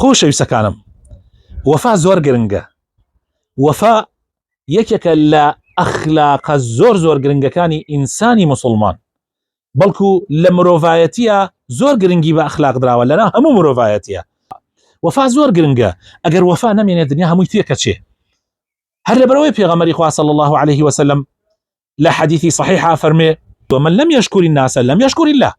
خۆشەویستەکانم وەفا زۆر گرنگە وەفا یەکێکە لە ئەخلاقە زۆر زۆر گرنگەکانی ئینسانی مسلمان بەڵکو لە مرۆڤایەتە زۆر گرنگی بە ئەخلاق دراوە لەنا هەموو مرۆڤایەتە وەفا زۆر گرنگە ئەگەر وەفا نامێنێت دنیا هەمووی تێکەچێ هەر لەبەرەوەی پێغەمەری خوا صلی الله عليه وسلم لە حەدیثی صحیحا فەرمێ ومن لم يشكر الناس لم يشكر الله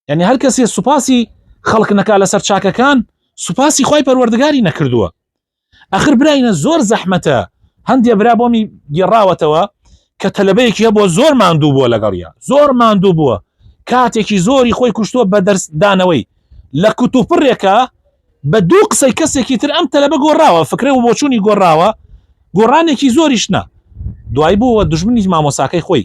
یعنی هەر کەسێ سوپاسی خەڵک نەکا لەسەر چاکەکان سوپاسی خی پەروەردگاری نەکردووە ئەخر براینە زۆر زەحمەتە هەندێ برا بۆمی گێڕاوەتەوە کە تەلبەیەکی هەبووە زۆر ماندوو بووە لەگەڵیا زۆر ماندوو بووە کاتێکی زۆری خۆی کوشتووە بە دەرسدانەوەی لە کوتوپڕێکە بە دوو قسەی کەسێکی تر ئەم تەلبە گۆڕاوە فکرە و بۆچوونی گۆڕاوە گۆڕانێکی زۆریشنا دوای بووە دژمنی مامۆساکەی خۆی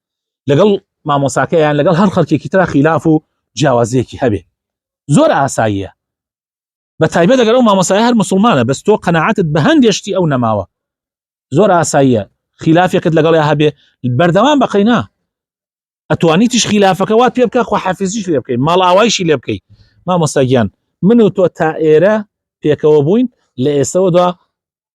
لەگەڵ مامۆساکە یان لەگەڵ هەر خەڵکێکی ترا خیلاف و جیاوازیەکی هەبێ زۆر ئاساییە بە تایبەت دەگەر ئەو مامۆسای هەر مسلمانە بەس تۆ قەنەعاتت بە هەندێشتی ئەو نەماوە زۆر ئاساییە خلافێکت لەگەڵ یا هەبێ بەردەوام بەقینا ئەتوانی تیش خلافەکە وات پێ بکە خۆ حەفیزیش لێ بکەیت ماڵ ئاوایشی لێ بکەیت مامۆستاگیان من و تۆ تا ئێرە پێکەوە بووین لە ئێستەوەدا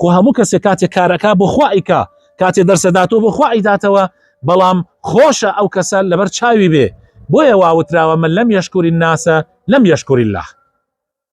خۆ هەموو کەسێک کاتێ کار ئەکا بۆ خوا ئەیکا، کاتێ دەرس ئەداتەوە بۆ خوا ئەیداتەوە، بەڵام خۆشە ئەو کەسە لەبەر چاوی بێ، بۆیە وا وتراوە من لم یشکر الناس لم یشکر اللە.